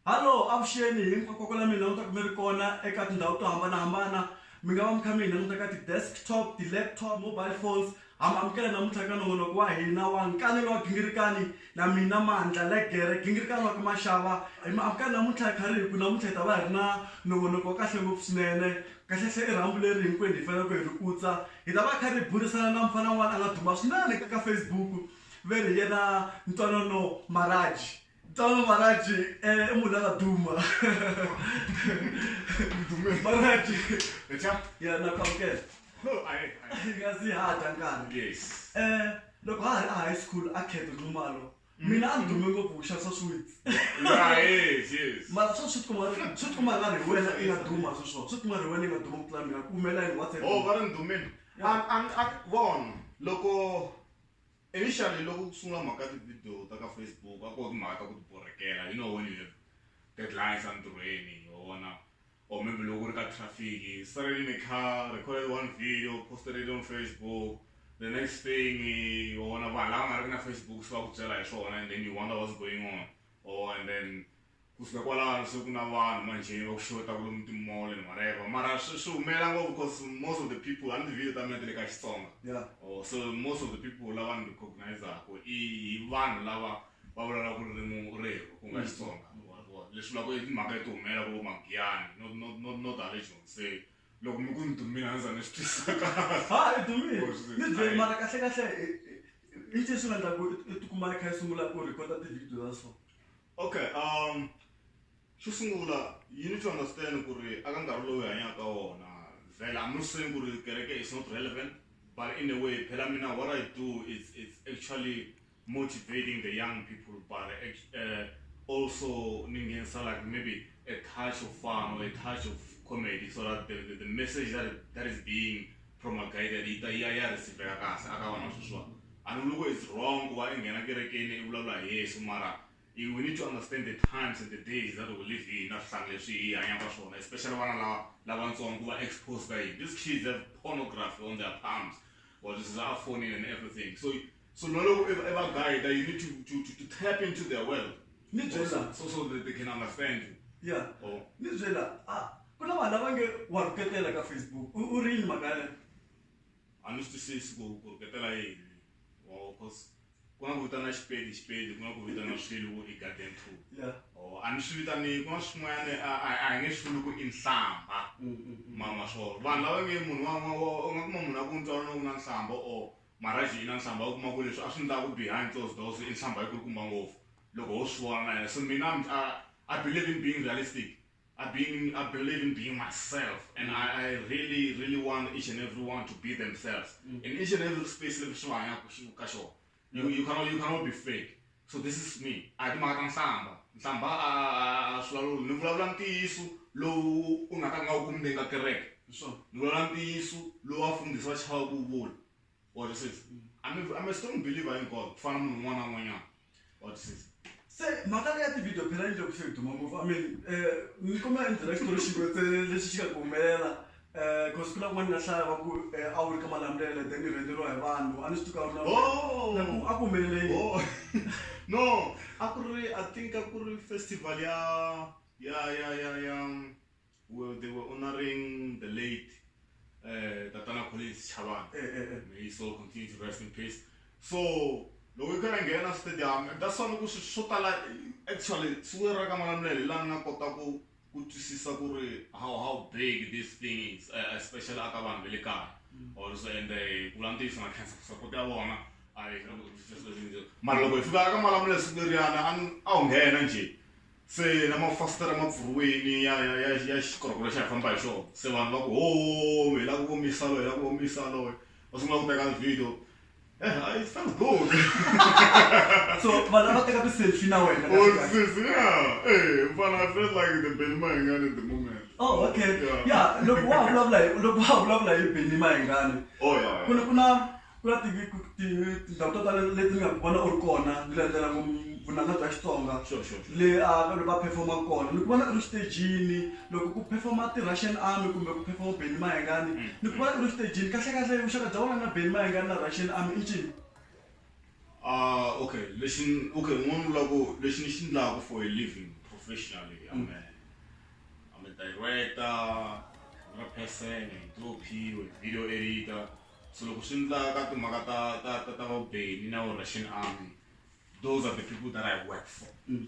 Hallo, avuxeni hinkwako la mina languta mi ri kona eka tindhawu to hambanahambana mi nga va mi kha mi hi languta ka ti-desktop, ti-laptop, mobile phones ha mi amukela namuntlha ka nongonoko wa hina wa nkanelo wa gingirikani na mina Mandla Legere gingirikani wa ka Mashava hi mi amukela namuntlha hi kha ri hi ku namuntlha hi ta va hi ri na nongonoko wa kahle ngopfu swinene kahlekahle i rhambu leri hinkwenu hi faneleke hi ri kutsa Hi ta va hi karhi hi burisana na mufana un'wana a nga duma swinene ka Facebook ve ri hi yena Ntwanano Maraji. Ntwanano Maraji i munhu la nga duma Maraji ya na ku amukela hi nga si ha dya nkarhi loko ha ha ri a high school a Kheto Nxumalo mina a ni dume ngopfu ku xavisa sweets yeah yes yes mara swa sweet kumara sweet kumara nga ri hi wena i nga duma swi swona sweet kumara hi wena i nga duma ku tlula mina ku humelela yini what's oh va ri ni dumile a a a vona loko initially loko ku sungula mhaka ti video ta ka Facebook a ko hi mhaka ta ku ti borhekela you know when you have deadlines entirhweni hi wona or maybe loko ku ri ka traffic you started in a car recorded one video posted it on facebook the next thing vona vanhu lava nga ri na facebook se va ku byela hi swona and then you wonder what's going on or and then kusuka kwalano se ku na vanhu manjheni va ku xota ku lomu timole ni whatever mara swi swi humelela ngopfu because most of the people a ni tivile ta mina ti le ka xitsonga or so most of the people lava ni recognizaka i vanhu lava va vulavula ku ririmi u ri hiko ku nga mm. xitsonga leswi vulaka i timhaka leti humelela ku magiyani no no no no tale jonseni loko mi ku ni dumile a ndzi za ni swi twisaka ha i dumile ni byeli mara kahle kahle i ncini swi nga endla ku i tikuma i kha i sungula ku rhikota tivhidiyo ta so okay um xo sungula you need to understand ku ri aka nkarhi lowu hi hanyaka wona vhela i'm not saying ku ri kereke is not relevant but in a way phela mina what i do is it's actually motivating the young people but uh, also ningenisa like maybe a touch of fun or a touch of comedy so that the, the, the message that, that is being promulgated ita iya ya receiver kahle akawana sweswiwa anuluko is wrong kuva i nghena kerekeni i vulavula hi yesu mara we need to understand the times and the days that we live in na swihlangi leswi hi hanyaka swona especially vana lava lavatsongo kuva exposed ka yini these kids have pornography on their palms or this is our phone and everything so so naloko i va guide you need to to to tap into their world ni byela so so that they can understand you yeah oh. ni byela ah ku na vanhu lava nge wa rhuketela ka facebook u ri yini mhaka yaleyo a ni swi twisisi ku ku rhuketela yini or cause ku nga ku vitana xipedi xipedi ku nga ku vitana swilo vo i garden tool or a ni swi vitani ku nga swin'wanyana a hi nge swi vuli ku i nhlamba mama swona vanhu lava nge munhu wan'wana u nga kuma munhu a ku ntswalana ku na nhlamba or Mara Gina, Nhlambha u kuma ku leswi a swi ndla ku behind closed doors i nhlambha yi kulukumba ngopfu loko ho swi vona na yena. So mina I'm I I believe in being realistic, I being in I believe in being myself and I I really really want each and everyone to be themselves in each and every space leswi va hanyaka ka xona. You you cannot you cannot be fake So this is me a hi timhaka ta nhlambha nhlambha a a swi vulavuli ni vulavula ntiyiso lowu u nga ta nga u kumbe ka kereke so ni vulavula ntiyiso lowu a fundhisi va chava ku vula what is this i'm a, I'm a strong believer in god ku fana munhu un'wana na un'wanyana what is this se mhaka leyi ya ti-video phela yi le ku se hi duma ngopfu i mean um ni kuma endzela xitori xin'we ntsena lexi xi nga ku humelela Cause ku na kun'wana nga hlaya va ku a wu ri ka malamulele then ni rhendzeriwa hi vanhu a ni swi tuka a ku humelele no a ku ri i think a ku ri festival ya ya ya ya ya where they were honoring the late uh, tatana collins chavana eh, eh, eh. may so continue to rest in peace so loko i karhi nghena stadium that's why loko swo tala actually siku ra ka malamulele lani nga kota ku ku twisisa ku ri how how big this thing is uh, especially aka vanhu va le kaya mm. or so and eh, ku vula ntiyiso na cancer ku support ya vona a yi kota ku twisisa swilo leswi njhe mara loko hi fika ka malamula siku leriyana a wu nghena njhe se na mafasitera ma pfuriweni ya ya ya ya xikorokoro xa hi famba hi xona se vanhu va ku ho hi la ku omisa loyi hi la ku omisa loyi va sungula ku teka video Yeah, it felt good. so vanhu take a ku selfie na wena oh sis yeah hey but i felt like the Benny Mayengane at the moment oh okay yeah, yeah. loko wa vulavula loko wa vulavula hi Benny Mayengane oh yeah, yeah. kuna kuna kuna tindhawu to tala leti ni nga ku vona u ri kona ni landzela vunanga bya xitsonga le a va performa kona ni ku vona u ri xitejini loko ku perform-a ti-russian army kumbe ku perform-a Benny Mayengani mm. ni ku va u ri xitejini kahlekahle vuxaka bya wena na Benny Mayengani na russian army i ncini ah okay lexi okay n'wana vula ku lexi ni xi endlaka for a living professionally mm. ame ame director ra person hi tophiwe video editor so loko swi endla ka timhaka ta ta ta ta va Benny na russian army those are the people that i work for mm.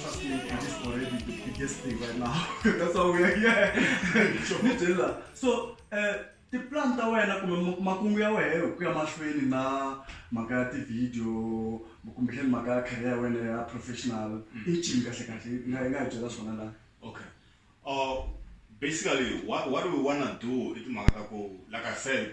Trust me, it is already the biggest thing right now. That's why we are here. Ni byela. So, eh, tiplan ta wena kumbe ma- makungu ya wena hi ku ya mahlweni na mhaka ya tivhidiyo kumbexani mhaka ya career ya wena ya professional i ncini kahle kahle i nga i nga hi byela swona laha Okay. Uh, basically, what, what we want to do, it's like I said,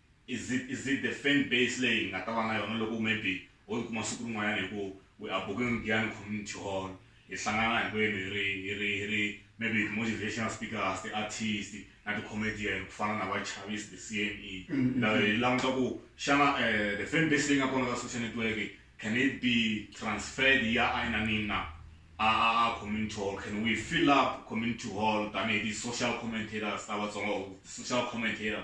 Is it is it the fan base leyi hi nga ta va na yona loko maybe ho ti kuma siku rin'wanyana hi ku we are booking Giyani Community Hall hi hlangana hinkwenu hi ri hi ri hi ri maybe ti-motivational speakers ti-artist na ti-comedian ku fana na va Chavis the CME hi languta ku xana um the fan base leyi nga kona ka social network can it be transferred yi ya a inanini na a a a community hall can we fill up community hall tanihi ti-social commentators ta Vatsonga or ti-social commentators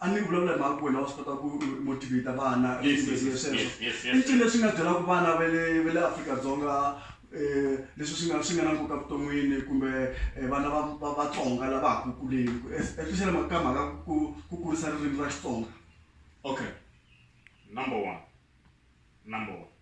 a ni vulavula hi mhaka ku wena wa swi kota ku motivate vana sweswo leswi nga byelaka vana va le va le Afrika-Dzonga um leswi swi nga swi nga na nkoka vuton'wini kumbe vana va va vatsonga lava ha ku kuleni especially mhaka ka mhaka ku ku kurisa ririmi ra Xitsonga okay number one number one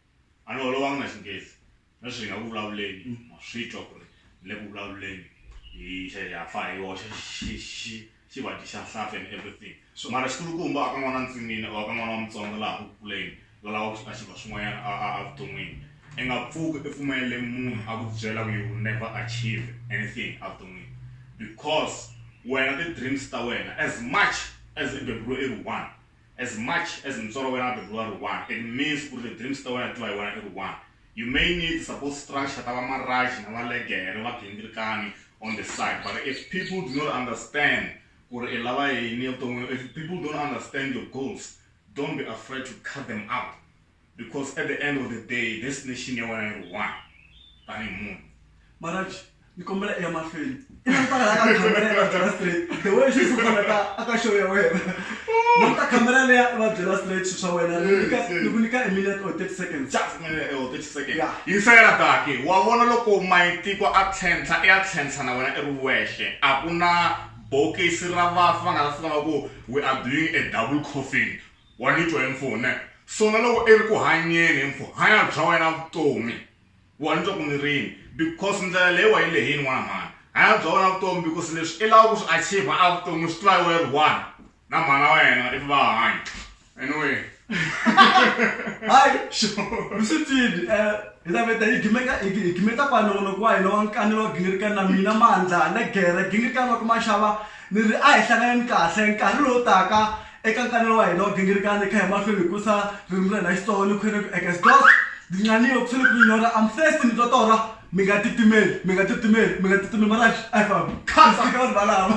a ni holovanga na Xinghezi Sweswi hi nga ku vulavuleni ma swi twa ku ri hi le ku vulavuleni hi xa ya fa hi yoxe xi xi xi va dyi xa nhlampfi and everything so mara xikulukumba a ka n'wana ntsinini or a ka n'wana wa mutsonga laha ku kuleni la lava ku a xi va swin'wanyana a a a vuton'wini i nga pfuki i pfumelele munhu a ku byela ku you will never achieve anything a vuton'wini because wena ti-dreams ta wena as much as i beburiwe i ri one As much as mutswari wa wena a beburiwa a ri one, it means ku ri ti dreams ta wena ti va hi wena i ri one. You may need ti support structure ta va Maraj na va Legere, va Gindirikani on the side but if people do not understand ku ri i lava yini evuton'wini, if people don't understand your goals, don't be afraid to cut them out. because at the end of the day destination ya wena iri one tanihi munhu maraji ni kombela eya mahlweni the way swi sufanaka aka show ya wena ni ta khamera leya va byela straight swilo swa wena ni ku nyika a minute or 30 seconds just minute or 30 seconds yeah. yingisela daki wa vona loko mayitiko a tlhentlha i ya tlhentlha na wena i ri wexe a ku na bokisi ra vafi va nga ta fika va ku we are doing a double coffin wa nitwa hi mfu ne sona loko iri ku hanyeni hi mfu hanya bya wena vutomi wa nitwa ku ni rini because ndlela leyi wa yi lehini n'wana mhani hanya bya wena vutomi because leswi i lava ku swi achieve a vutomi u swi tiva yi weri one na mhana wa yena if va hanya anyway hayi sure swi tini eh Ndaveta yi gimeka yi gimeta kwa nongonoko wa hina wa nkanelo wa gingirikani na mina mandla na gere gingirikani wa ku maxava ni ri a hi hlanganeni kahle nkarhi lowu taka Eka nkanelo wa hina wo gingirikana, hi kha hi mahlweni hi kurisa ririmi ra hina ra Xitsonga ni khwene ku ekes dos, Dinxaniwe, ku sele ku ri nyora, I'm thirsty, mi twa torha? Mi nga titimeli, mi nga titimeli, mi nga titimeli, Maranxi a hi fambi, mi sika vanhu valava.